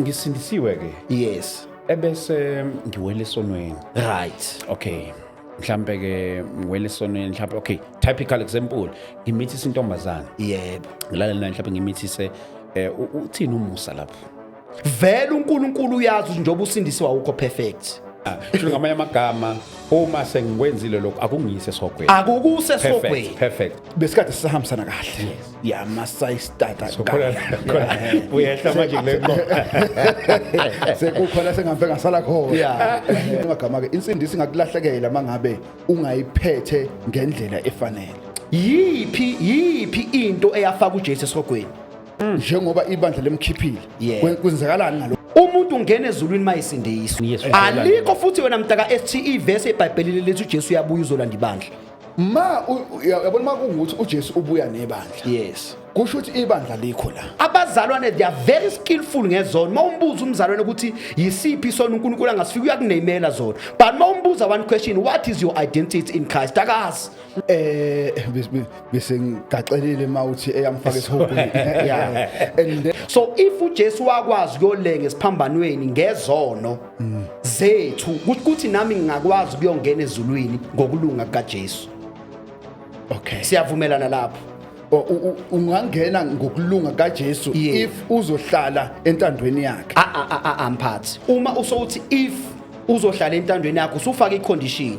ngisindisiwe ke yes ebese ngiwele esonweni right okay mhlambe ke ngiwele esonweni mhlambe okay typical example ngimithisa intombazana yebo ngilalela mhlambe ngimithise eh uthini umusa lapho vele uNkulunkulu uyazi njengoba usindisiwa ukho perfect sho ah, ngamanye amagama uma sengikwenzile lokho akungiyise sogweni akukuse sogweni perfect besikade sisahambisana kahle ya Masai Starter so khona khona uyehla manje kule sekukhona sengambe ngasala khona yeah amagama ke insindisi ingakulahlekela mangabe ungayiphethe ngendlela efanele yiphi yiphi into eyafaka uJesu esogweni mm. njengoba ibandla lemkhiphile kwenzakalani ngalo umuntu ungena ezulwini mayisindiswa alikho futhi wena mntaka STE verse eBhayibhelini lithi uJesu uyabuya uzolanda ibandla ma yabona uma kungukuthi ujesu ubuya nebandla yes kusho ukuthi ibandla likho la abazalwane they are very skillful ngezono uma umbuza umzalwane ukuthi yisiphi isono unkulunkulu angasifika uyakuneyimela zona but uma umbuza one question what is your identity in christ akazi eh bese ngigaxelile uma uthi eyamfaka esihogweni yeah and so if ujesu wakwazi kuyolenga esiphambanweni ngezono mm. zethu ukuthi nami ngingakwazi ukuyongena ezulwini ngokulunga kukaJesu okay siyavumelana lapho ungangena ngokulunga kaJesu if uzohlala entandweni yakhe a ah, a ah, a ah, mphathi uma usowuthi if uzohlala entandweni yakho usufaka icondition